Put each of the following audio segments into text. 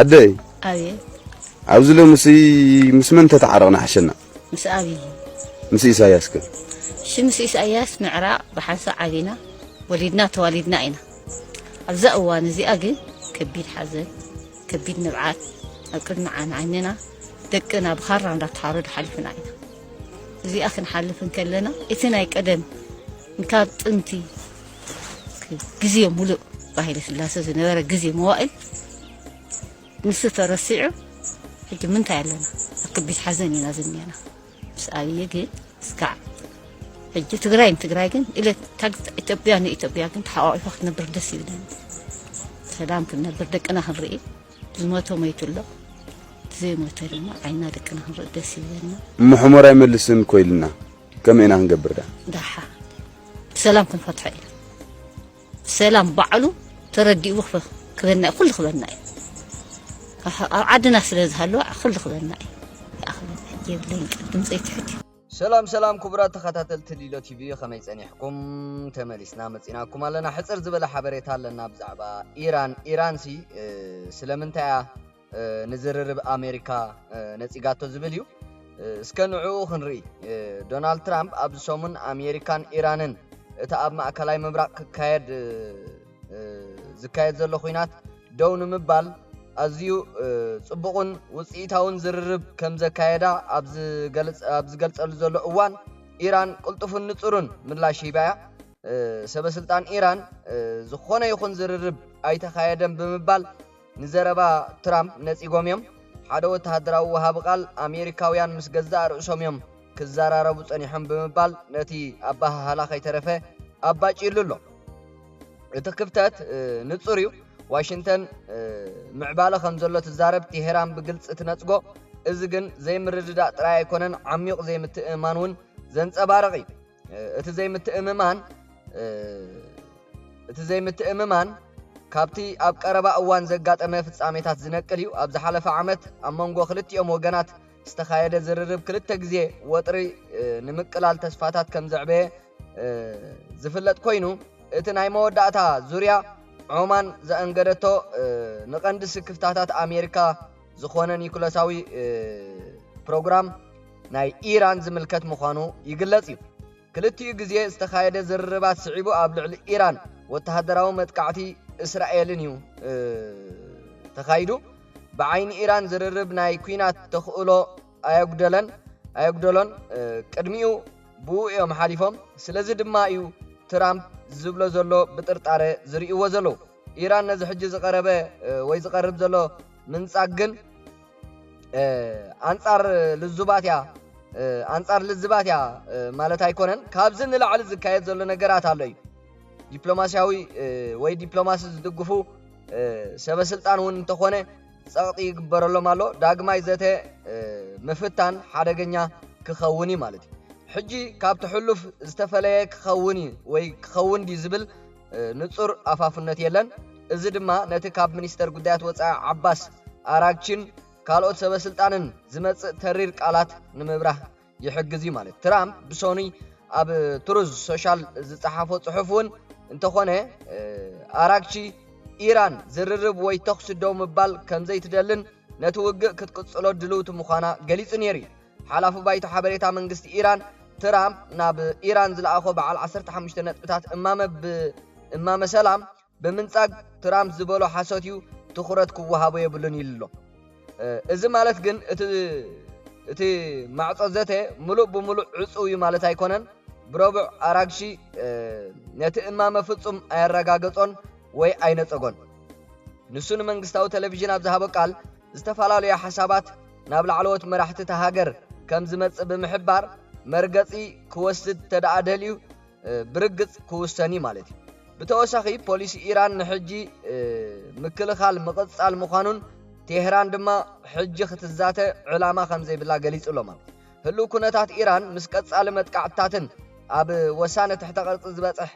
ኣደይ ኣብየ ኣብዚ ሎምሲ ምስ መን ተተዓረቕና ሓሸና ምስ ኣብይ ምስ ኢሳያስ ከ እሺ ምስ ኢሳያስ ምዕራቕ ብሓንሳ ዓቢና ወሊድና ተዋሊድና ኢና ኣብዛ እዋን እዚኣ ግን ከቢድ ሓዘን ከቢድ ንብዓት ኣብ ቅድሚ ዓይንና ደቅና ብኻራ እንዳተሓረዱ ሓሊፍና ኢና እዚኣ ክንሓልፍ እንከለና እቲ ናይ ቀደም ካብ ጥንቲ ግዜ ሙሉእ ብሃይለ ስላሰ ዝነበረ ግዜ መዋእል ንሱ ተረሲዑ ሕጂ ምንታይ ኣለና ኣብ ከቢድ ሓዘን ኢና ዝኒአና ምስ ኣብዪ ግን እስካዕ ሕጂ ትግራይ ንትግራይ ግን ኢለ ኢትዮጵያ ንኢትዮጵያ ግን ተሓቋቂፋ ክትነብር ደስ ይብለኒ ሰላም ክንነብር ደቅና ክንርኢ ዝሞተ ሞይቱ ኣሎ ዘይሞተ ድማ ዓይና ደቅና ክንርኢ ደስ ይብለና ምሕሞር ኣይመልስን ኮይልና ከመይ ኢና ክንገብር ደኣ? ደሓ ብሰላም ክንፈትሖ ኢና ብሰላም ባዕሉ ተረዲኡ ክበና እዩ ኩሉ ክበና እዩ ኣብ ዓድና ስለ ዝሃለወ ኩሉ ክበና እዩ ይኣኽለና የብለይን ቅድም ዘይትሕት እዩ ሰላም ሰላም ክቡራት ተኸታተልቲ ሊሎ ቲቪ ከመይ ጸኒሕኩም ተመሊስና መጺናኩም ኣለና ሕጽር ዝበለ ሓበሬታ ኣለና ብዛዕባ ኢራን ኢራንሲ ስለምንታይ እያ ንዝርርብ ኣሜሪካ ነጺጋቶ ዝብል እዩ። እስከ ንዕኡ ክንርኢ። ዶናልድ ትራምፕ ኣብዚ ሰሙን ኣሜሪካን ኢራንን እቲ ኣብ ማእከላይ ምብራቕ ክካየድ ዝካየድ ዘሎ ኹናት ደው ንምባል ኣዝዩ ጽቡቕን ውጽኢታውን ዝርርብ ከም ዘካየዳ ኣብ ዝገልጸሉ ዘሎ እዋን ኢራን ቅልጡፍን ንጹርን ምላሽ ሂባያ። ሰበስልጣን ኢራን ዝኾነ ይኹን ዝርርብ ኣይተኻየደን ብምባል ንዘረባ ትራምፕ ነጺጎም እዮም። ሓደ ወተሃደራዊ ወሃቢ ቃል፣ ኣሜሪካውያን ምስ ገዛእ ርእሶም እዮም ክዘራረቡ ጸኒሖም ብምባል ነቲ ኣበሃህላ ከይተረፈ ኣባጭዩሉ ኣሎ። እቲ ክፍተት ንጹር እዩ፣ ዋሽንተን ምዕባለ ከም ዘሎ ትዛረብ፣ ቴሄራን ብግልጺ ትነጽጎ። እዚ ግን ዘይምርድዳእ ጥራይ ኣይኮነን፣ ዓሚዩቕ ዘይምትእምማን እውን ዘንጸባርቕ እዩ። እቲ ዘይምትእምማን እቲ ዘይምትእምማን ካብቲ ኣብ ቀረባ እዋን ዘጋጠመ ፍጻሜታት ዝነቅል እዩ። ኣብ ዝሓለፈ ዓመት ኣብ መንጎ ክልቲኦም ወገናት ዝተኻየደ ዝርርብ ክልተ ግዜ ወጥሪ ንምቅላል ተስፋታት ከም ዘዕበየ ዝፍለጥ ኮይኑ እቲ ናይ መወዳእታ ዙርያ ዖማን ዘእንገደቶ ንቐንዲ ስክፍታታት ኣሜሪካ ዝኾነ ኒኩለሳዊ ፕሮግራም ናይ ኢራን ዝምልከት ምዃኑ ይግለጽ እዩ። ክልቲኡ ግዜ ዝተኻየደ ዝርርባት ስዒቡ ኣብ ልዕሊ ኢራን ወተሃደራዊ መጥቃዕቲ እስራኤልን እዩ ተኻይዱ። ብዓይኒ ኢራን ዝርርብ ናይ ኩናት ተኽእሎ ኣየጉደለን ኣየጉደሎን ቅድሚኡ ብኡ እዮም ሓሊፎም። ስለዚ ድማ እዩ ትራምፕ ዝብሎ ዘሎ ብጥርጣረ ዝርእይዎ ዘለዉ። ኢራን ነዚ ሕጂ ዝቐረበ ወይ ዝቐርብ ዘሎ ምንጻግ ግን ኣንጻር ልዙባት እያ ኣንጻር ልዝባት እያ ማለት ኣይኮነን ካብዚ ንላዕሊ ዝካየድ ዘሎ ነገራት ኣሎ እዩ ዲፕሎማስያዊ ወይ ዲፕሎማሲ ዝድግፉ ሰበስልጣን እውን እንተኾነ ጸቕጢ ይግበረሎም ኣሎ ዳግማይ ዘተ ምፍታን ሓደገኛ ክኸውን እዩ ማለት እዩ ሕጂ ካብቲ ሕሉፍ ዝተፈለየ ክኸውን እዩ ወይ ክኸውን ድዩ ዝብል ንጹር ኣፋፍነት የለን፣ እዚ ድማ ነቲ ካብ ሚኒስተር ጉዳያት ወጻኢ ዓባስ ኣራግቺን ካልኦት ሰበስልጣንን ዝመጽእ ተሪር ቃላት ንምብራህ ይሕግዝ እዩ ማለት ትራምፕ ብሰኑይ ኣብ ትሩዝ ሶሻል ዝጸሓፎ ጽሑፍ እውን እንተኾነ ኣራግቺ ኢራን ዝርርብ ወይ ተኹሲ ደው ምባል ከምዘይትደልን ነቲ ውግእ ክትቅጽሎ ድልውቲ ምዃና ገሊጹ ነይሩ እዩ። ሓላፊ ባይቶ ሓበሬታ መንግስቲ ኢራን፣ ትራምፕ ናብ ኢራን ዝለኣኾ በዓል ዓሰርተ ሓሙሽተ ነጥብታት እማመ ብ እማመ ሰላም ብምንጻግ ትራምፕ ዝበሎ ሓሶት'ዩ፣ ትኹረት ክወሃቦ የብሉን ኢሉ'ሎ። እዚ ማለት ግን እቲ እቲ ማዕጾ ዘተ ምሉእ ብምሉእ ዕጹው እዩ ማለት ኣይኮነን። ብረቡዕ ኣራግሺ ነቲ እማመ ፍጹም ኣየረጋገጾን ወይ ኣይነጸጎን። ንሱ ንመንግስታዊ ተለቪዥን ኣብ ዝሃቦ ቃል ዝተፈላለዩ ሓሳባት ናብ ላዕለዎት መራሕቲ እታ ሃገር ከም ዝመጽእ ብምሕባር መርገጺ ክወስድ ተደኣ ደልዩ ብርግጽ ክውሰን እዩ ማለት እዩ ብተወሳኺ ፖሊሲ ኢራን ንሕጂ ምክልኻል ምቕጻል ምዃኑን ቴህራን ድማ ሕጂ ክትዛተ ዕላማ ከም ዘይብላ ገሊጹ ኣሎ ማለት ህሉው ኩነታት ኢራን ምስ ቀጻሊ መጥቃዕትታትን ኣብ ወሳነ ትሕተ ቅርጺ ዝበጽሕ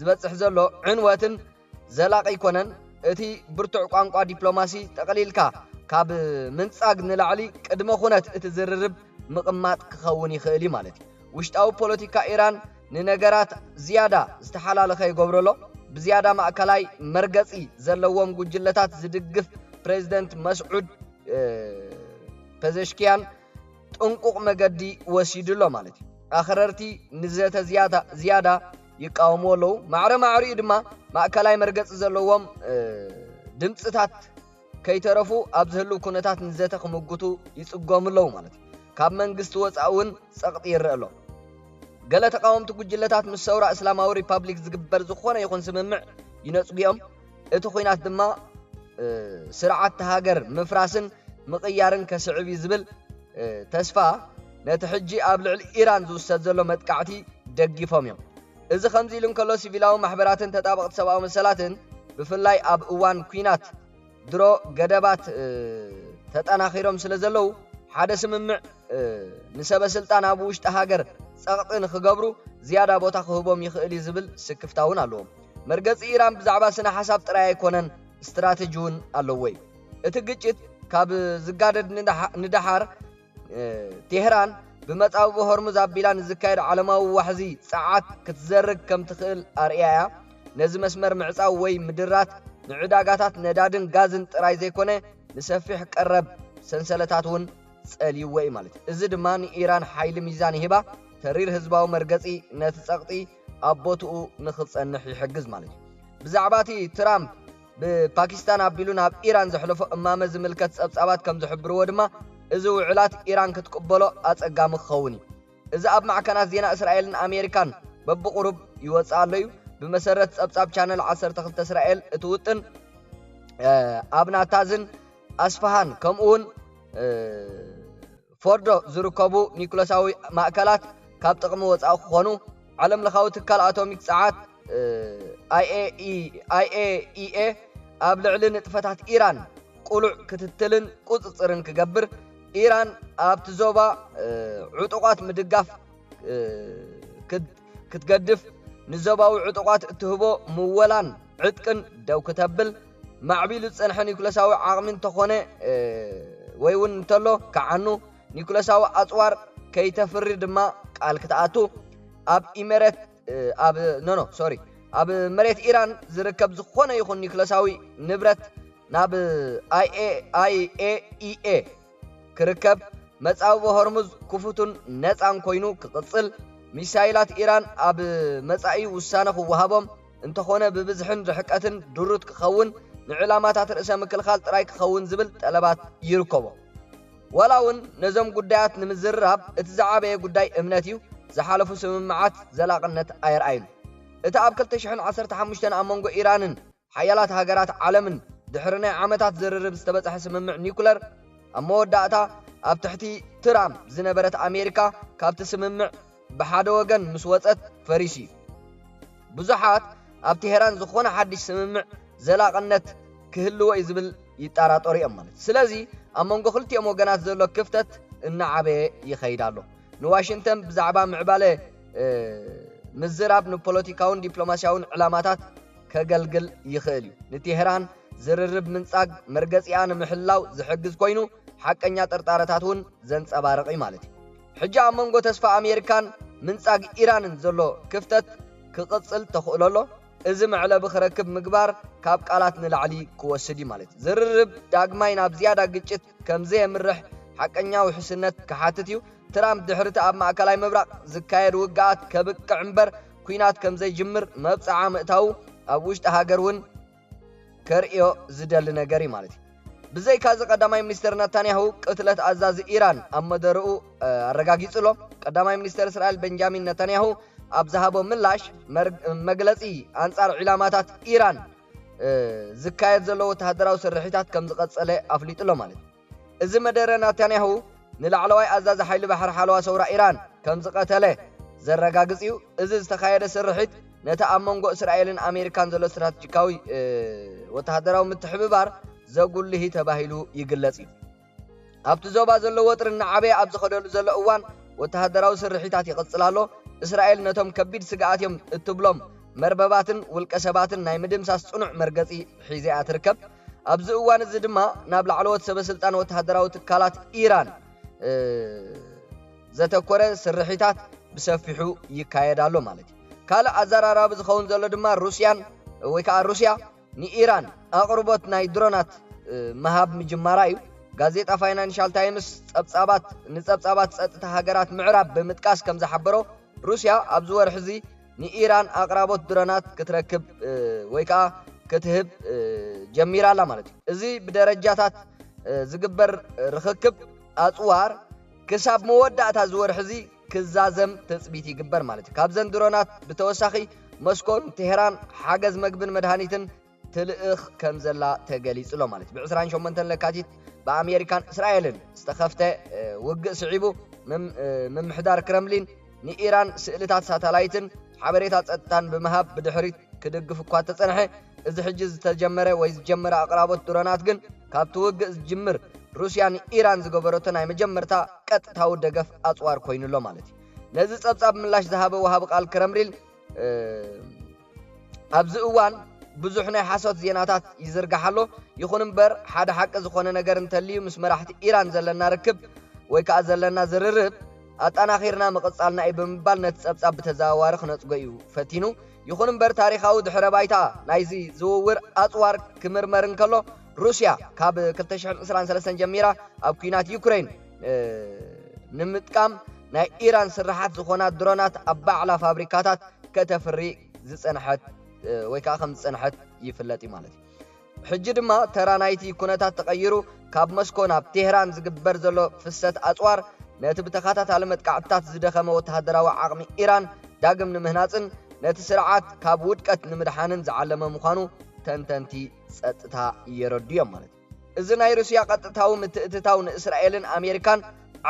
ዝበጽሕ ዘሎ ዕንወትን ዘላቂ ኣይኮነን። እቲ ብርቱዕ ቋንቋ ዲፕሎማሲ ጠቕሊልካ ካብ ምንጻግ ንላዕሊ ቅድመ ኩነት እቲ ዝርርብ ምቕማጥ ክኸውን ይኽእል እዩ ማለት እዩ። ውሽጣዊ ፖለቲካ ኢራን ንነገራት ዝያዳ ዝተሓላለኸ ይገብሮ'ሎ። ብዝያዳ ማእከላይ መርገጺ ዘለዎም ጉጅለታት ዝድግፍ ፕረዚደንት መስዑድ ፐዘሽክያን ጥንቁቕ መገዲ ወሲዱ'ሎ ማለት እዩ። ኣኽረርቲ ንዘተ ዝያዳ ይቃወምዎ ኣለዉ ማዕረ ማዕሪኡ ድማ ማእከላይ መርገጺ ዘለዎም ድምጽታት ከይተረፉ ኣብ ዝህልው ኩነታት ንዘተ ክምጉቱ ይጽጎሙ ኣለዉ ማለት እዩ ካብ መንግስቲ ወፃኢ እውን ጸቕጢ ይረአ ኣሎ ገለ ተቃወምቲ ጉጅለታት ምስ ሰውራ እስላማዊ ሪፓብሊክ ዝግበር ዝኾነ ይኹን ስምምዕ ይነጽጉኦም እቲ ኹናት ድማ ስርዓት ሃገር ምፍራስን ምቕያርን ከስዕብ እዩ ዝብል ተስፋ ነቲ ሕጂ ኣብ ልዕሊ ኢራን ዝውሰድ ዘሎ መጥቃዕቲ ደጊፎም እዮም። እዚ ከምዚ ኢሉ እንከሎ ሲቪላዊ ማሕበራትን ተጣበቕቲ ሰብኣዊ መሰላትን ብፍላይ ኣብ እዋን ኲናት ድሮ ገደባት ተጠናኺሮም ስለ ዘለዉ ሓደ ስምምዕ ንሰበ ስልጣን ኣብ ውሽጢ ሃገር ጸቕጢ ንኽገብሩ ዝያዳ ቦታ ክህቦም ይኽእል እዩ ዝብል ስክፍታ እውን ኣለዎም። መርገጺ ኢራን ብዛዕባ ስነ-ሓሳብ ጥራይ ኣይኰነን፣ ስትራተጂ እውን ኣለዎ'ዩ። እቲ ግጭት ካብ ዝጋደድ ንደሓር፣ ቴህራን ብመጻብቦ ሆርሙዝ ኣቢላ ንዝካየድ ዓለማዊ ዋሕዚ ጸዓት ክትዘርግ ከም ትኽእል ኣርእያ እያ። ነዚ መስመር ምዕጻው ወይ ምድራት ንዕዳጋታት ነዳድን ጋዝን ጥራይ ዘይኰነ ንሰፊሕ ቀረብ ሰንሰለታት እውን ጸልይዎ'ዩ ማለት እዩ። እዚ ድማ ንኢራን ሓይሊ ሚዛን ይህባ፣ ተሪር ህዝባዊ መርገጺ ነቲ ጸቕጢ ኣብ ቦትኡ ንኽጸንሕ ይሕግዝ ማለት እዩ። ብዛዕባ እቲ ትራምፕ ብፓኪስታን ኣቢሉ ናብ ኢራን ዘሕለፎ እማመ ዝምልከት ጸብጻባት ከም ዝሕብርዎ ድማ፣ እዚ ውዕላት ኢራን ክትቅበሎ ኣጸጋሚ ክኸውን እዩ። እዚ ኣብ ማዕከናት ዜና እስራኤልን ኣሜሪካን በብቝሩብ ይወጽእ ኣሎ እዩ። ብመሰረት ጸብጻብ ቻነል ዓሰርተ ክልተ እስራኤል እቲ ውጥን ኣብ ናታዝን ኣስፋሃን ከምኡውን ፎርዶ ዝርከቡ ኒኩለሳዊ ማእከላት ካብ ጥቕሚ ወጻኢ ክኾኑ፣ ዓለምለኻዊ ትካል ኣቶሚክ ጸዓት፣ IAEA፣ ኣብ ልዕሊ ንጥፈታት ኢራን ቅሉዕ ክትትልን ቁጽጽርን ክገብር፣ ኢራን ኣብቲ ዞባ ዕጡቓት ምድጋፍ ክትገድፍ፣ ንዞባዊ ዕጡቓት እትህቦ ምወላን ዕጥቅን ደው ክተብል፣ ማዕቢሉ ዝጸንሐ ኒኩለሳዊ ዓቕሚ እንተኾነ ወይ እውን እንተሎ ክዓኑ ኒኩለሳዊ ኣጽዋር ከይተፍሪ ድማ ቃል ክትኣቱ ኣብ ኢመረት ኣብ ኖኖ ሶሪ ኣብ መሬት ኢራን ዝርከብ ዝኾነ ይኹን ኒክለሳዊ ንብረት ናብ ኣይኤኢኤ ክርከብ መጻብቦ ሆርሙዝ ክፉቱን ነፃን ኮይኑ ክቕፅል ሚሳይላት ኢራን ኣብ መጻኢ ውሳነ ክወሃቦም እንተኾነ ብብዝሕን ርሕቀትን ድሩት ክኸውን ንዕላማታት ርእሰ ምክልኻል ጥራይ ክኸውን ዝብል ጠለባት ይርከቦ። ዋላ እውን ነዞም ጉዳያት ንምዝርራብ እቲ ዝዓበየ ጉዳይ እምነት እዩ፣ ዝሓለፉ ስምምዓት ዘላቕነት ኣየርኣዩን። እቲ ኣብ ክልተ ሽሕን ዓሰርተ ሓሙሽተን ኣብ መንጎ ኢራንን ሓያላት ሃገራት ዓለምን ድሕሪ ናይ ዓመታት ዝርርብ ዝተበጽሐ ስምምዕ ኒኩለር፣ ኣብ መወዳእታ ኣብ ትሕቲ ትራም ዝነበረት ኣሜሪካ ካብቲ ስምምዕ ብሓደ ወገን ምስ ወጸት ፈሪሱ'ዩ። ብዙሓት ኣብ ቴህራን ዝኾነ ሓድሽ ስምምዕ ዘላቕነት ክህልዎ'ዩ ዝብል ይጣራጠሩ'ዮም ማለት ስለዚ ኣብ መንጎ ክልቲኦም ወገናት ዘሎ ክፍተት እናዓበየ ይኸይድ ኣሎ። ንዋሽንተን ብዛዕባ ምዕባለ ምዝራብ ንፖለቲካውን ዲፕሎማስያውን ዕላማታት ከገልግል ይኽእል'ዩ። ንቴህራን ዝርርብ ምንጻግ መርገጺኣ ንምሕላው ዝሕግዝ ኮይኑ ሓቀኛ ጥርጣረታት'ውን ዘንጸባርቕ'ዩ ማለት'ዩ። ሕጂ ኣብ መንጎ ተስፋ ኣሜሪካን ምንጻግ ኢራንን ዘሎ ክፍተት ክቕጽል ተኽእሎ ኣሎ፣ እዚ መዕለቢ ክረክብ ምግባር ካብ ቃላት ንላዕሊ ክወስድ እዩ ማለት ዝርርብ ዳግማይ ናብ ዝያዳ ግጭት ከም ዘየምርሕ ሓቀኛ ውሕስነት ክሓትት እዩ፣ ትራምፕ ድሕሪ'ቲ ኣብ ማእከላይ ምብራቕ ዝካየድ ውግኣት ከብቅዕ እምበር ኲናት ከም ዘይጅምር መብጽዓ ምእታዉ ኣብ ውሽጢ ሃገር እውን ከርእዮ ዝደሊ ነገር እዩ ማለት እዩ። ብዘይካዚ ቀዳማይ ሚኒስተር ነታንያሁ ቅትለት ኣዛዚ ኢራን ኣብ መደርኡ ኣረጋጊጹ ኣሎ። ቀዳማይ ሚኒስተር እስራኤል በንጃሚን ነታንያሁ ኣብ ዝሃቦ ምላሽ መግለጺ ኣንጻር ዒላማታት ኢራን ዝካየድ ዘሎ ወተሃደራዊ ስርሒታት ከምዝቐጸለ ኣፍሊጡ ኣሎ ማለት እዩ። እዚ መደረ ናታንያሁ ንላዕለዋይ ኣዛዚ ሓይሊ ባሕሪ ሓለዋ ሰውራ ኢራን ከም ዝቐተለ ዘረጋግጽ እዩ። እዚ ዝተኻየደ ስርሒት ነቲ ኣብ መንጎ እስራኤልን ኣሜሪካን ዘሎ ስትራተጂካዊ ወተሃደራዊ ምትሕብባር ዘጉልህ እዩ ተባሂሉ ይግለጽ እዩ። ኣብቲ ዞባ ዘሎ ወጥሪ እናዓበየ ኣብ ዝኸደሉ ዘሎ እዋን ወተሃደራዊ ስርሒታት ይቕጽል ኣሎ። እስራኤል ነቶም ከቢድ ስግኣት እዮም እትብሎም መርበባትን ውልቀ ሰባትን ናይ ምድምሳስ ጽኑዕ መርገጺ ሒዘ እያ ትርከብ። ኣብዚ እዋን እዚ ድማ ናብ ላዕለዎት ሰበስልጣን ወተሃደራዊ ትካላት ኢራን ዘተኮረ ስርሒታት ብሰፊሑ ይካየድ ኣሎ ማለት እዩ ካልእ ኣዘራራቢ ዝኸውን ዘሎ ድማ ሩስያን ወይ ከዓ ሩስያ ንኢራን ኣቕርቦት ናይ ድሮናት ምሃብ ምጅማራ እዩ ጋዜጣ ፋይናንሻል ታይምስ ጸብጻባት ንጸብጻባት ጸጥታ ሃገራት ምዕራብ ብምጥቃስ ከም ዝሓበሮ ሩስያ ኣብዚ ወርሒ እዚ ንኢራን ኣቕራቦት ድሮናት ክትረክብ ወይ ከዓ ክትህብ ጀሚራ ኣላ ማለት እዩ እዚ ብደረጃታት ዝግበር ርኽክብ ኣፅዋር ክሳብ መወዳእታ እዚ ወርሒ እዚ ክዛዘም ትፅቢት ይግበር ማለት እዩ ካብዘን ድሮናት ብተወሳኺ መስኮን ቴሄራን ሓገዝ መግብን መድሃኒትን ትልእኽ ከምዘላ ተገሊጹ'ሎ ማለት እዩ። ብዕስራን ሸሞንተን ለካቲት ብኣሜሪካን እስራኤልን ዝተኸፍተ ውግእ ስዒቡ ምምሕዳር ክረምሊን ንኢራን ስእልታት ሳታላይትን ሓበሬታ ጸጥታን ብምሃብ ብድሕሪት ክድግፍ እኳ እተጸንሐ እዚ ሕጂ ዝተጀመረ ወይ ዝጀመረ ኣቕራቦት ድሮናት ግን ካብቲ ውግእ ዝጅምር ሩስያ ንኢራን ዝገበረቶ ናይ መጀመርታ ቀጥታዊ ደገፍ ኣጽዋር ኮይኑ'ሎ ማለት እዩ። ነዚ ጸብጻብ ምላሽ ዝሃበ ወሃቢ ቃል ክረምሊን ኣብዚ እዋን ብዙሕ ናይ ሓሶት ዜናታት ይዝርጋሕ ኣሎ፣ ይኹን እምበር ሓደ ሓቂ ዝኾነ ነገር እንተልዩ ምስ መራሕቲ ኢራን ዘለና ርክብ ወይ ከኣ ዘለና ዝርርብ ኣጣናኺርና ምቕጻልና እዩ ብምባል ነቲ ጸብጻብ ብተዘዋዋሪ ክነጽጎ እዩ ፈቲኑ። ይኹን እምበር ታሪኻዊ ድሕረ ባይታ ናይዚ ዝውውር ኣጽዋር ክምርመር እንከሎ፣ ሩስያ ካብ ክልተ ሽሕን ዕስራን ሰለስተን ጀሚራ ኣብ ኲናት ዩክረይን ንምጥቃም ናይ ኢራን ስርሓት ዝኾና ድሮናት ኣብ ባዕላ ፋብሪካታት ከተፍሪ ዝጸንሐት ወይ ከዓ ከም ዝጸንሐት ይፍለጥ እዩ ማለት እዩ ሕጂ ድማ ተራ ናይቲ ኩነታት ተቐይሩ ካብ መስኮ ናብ ቴህራን ዝግበር ዘሎ ፍሰት ኣጽዋር ነቲ ብተኸታታሊ መጥቃዕትታት ዝደኸመ ወተሃደራዊ ዓቕሚ ኢራን ዳግም ንምህናጽን ነቲ ስርዓት ካብ ውድቀት ንምድሓንን ዝዓለመ ምዃኑ ተንተንቲ ጸጥታ የረዱ'ዮም ማለት እዩ። እዚ ናይ ሩስያ ቀጥታዊ ምትእትታው ንእስራኤልን ኣሜሪካን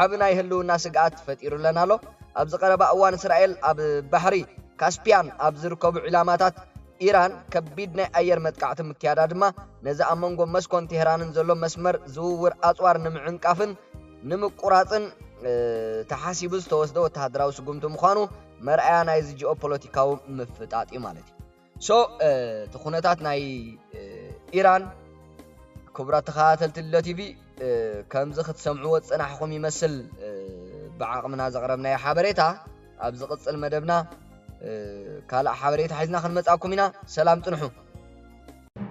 ዓቢ ናይ ህልውና ስግኣት ፈጢሩለን ኣሎ። ኣብዚ ቀረባ እዋን እስራኤል ኣብ ባሕሪ ካስፕያን ኣብ ዝርከቡ ዒላማታት ኢራን ከቢድ ናይ ኣየር መጥቃዕቲ ምክያዳ ድማ ነዚ ኣብ መንጎ መስኮን ቴህራንን ዘሎ መስመር ዝውውር ኣጽዋር ንምዕንቃፍን ንምቁራጽን ተሓሲቡ ዝተወስደ ወተሃደራዊ ስጉምቲ ምዃኑ መርኣያ ናይዚ ጂኦፖለቲካዊ ምፍጣጥ እዩ ማለት እዩ። ሶ እቲ ኩነታት ናይ ኢራን ክቡራት ተኸታተልቲ ልደ ቲቪ ከምዚ ክትሰምዕዎ ዝጸናሕኹም ይመስል ብዓቕምና ዘቕረብናዮ ሓበሬታ ኣብ ዝቕጽል መደብና ካልእ ሓበሬታ ሒዝና ክንመጻኩም ኢና ሰላም ጽንሑ